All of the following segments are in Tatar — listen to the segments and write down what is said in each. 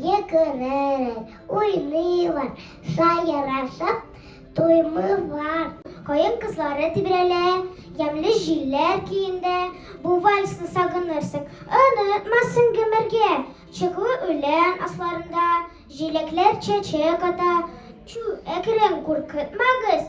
Йөгерәләр, уйныйлар, сайрашып туймыйлар. Каен кызлары тибрәлә, ямьле җилләр көендә. Бу вальсны сагынырсың, онытмассың гомергә. Чыклы үлән асларында җиләкләр чәчәк ата. Чү, әкрен, куркытмагыз,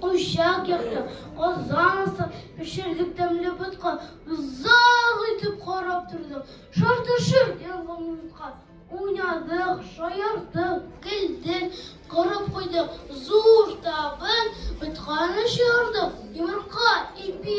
Учак якты, казан аста пешердек тәмле ботка, озак итеп карап тордык, шартышып янган утка. Уйнадык, шаярдык, көлдек, корып куйдык, зур табын, ботканы чыгардык, йомырка, ипи.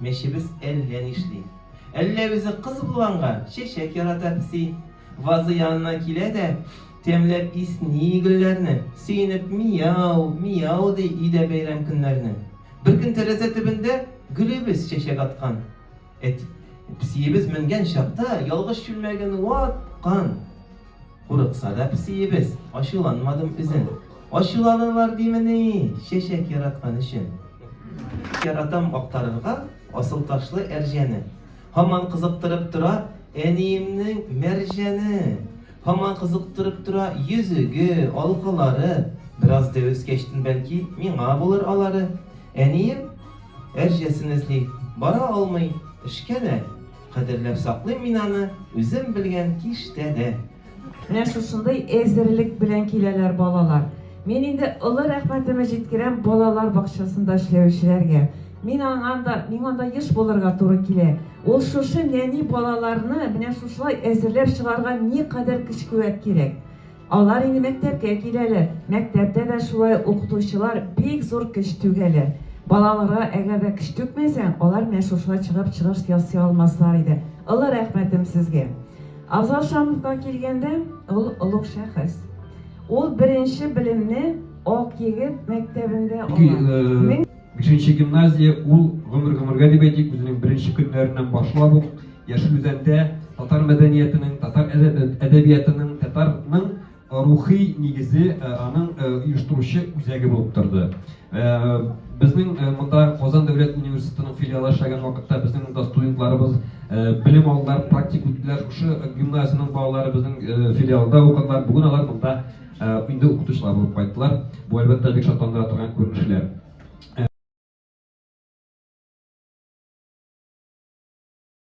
Мәчебез әллә нишли. Әллә үзе кыз булганга, чәчәк ярата песи. Вазы янына килә дә, тәмләп исни гөлләрне, сөенеп мияу, мияу ди өйдә бәйрәм көннәрне. Беркөн тәрәзә төбендә гөлебез чәчәк аткан. Әти, песиебез менгән чакта, ялгыш чүлмәген ваткан. Курыкса да песиебез, ачуланмадым үзен. Ачуланарлар димени, чәчәк яраткан өчен. Яратам актарырга асыл ташлы әрҗәне. Һаман кызыктырып тора әниемнең Мәрҗәне. Һаман кызыктырып тора йөзеге, алкалары. Бераз дәвескәчтен бәлки, миңа булыр алары. Әнием әрҗәсен эзли, бара алмый, эшкә дә. Кадерләп саклыйм мин аны үзем белгән киштә дә. Менә шушындый әзерлек белән киләләр балалар. Мин инде олы рәхмәтемне җиткерәм балалар бакчасында эшләүчеләргә. Мин анда, миңа анда еш булырга туры килә. Ул шушы нәни балаларны менә шушылай әзерләп чыгарга никадәр көч-куәт кирәк. Алар инде мәктәпкә киләләр. Мәктәптә дә шулай укытучылар бик зур көч түгәләр. Балаларга әгәр дә көч түкмәсәң, алар менә шушылай чыгып чыгыш ясый алмаслар иде. Олы рәхмәтем сезгә. Авзал Шамовка килгәндә, ул олуг шәхес. Ул беренче белемне Ак егет мәктәбендә ала. Бишенче гимназия ул гомер-гомергә дип әйтик, үзенең беренче көннәреннән башлап ук Яшел Үзәндә татар мәдәниятының, татар әдәбиятының, татарның рухи нигезе э, аның э, оештыручы үзәге булып торды. Э, безнең монда Казан дәүләт университетының филиалы эшләгән вакытта безнең монда студентларыбыз белем алдылар, практик үттеләр. Шушы гимназиянең балалары безнең филиалда укыдылар. Бүген алар монда Ә, инде укытучылар булып кайттылар. Бу әлбәттә бик шатландыра торган күренешләр.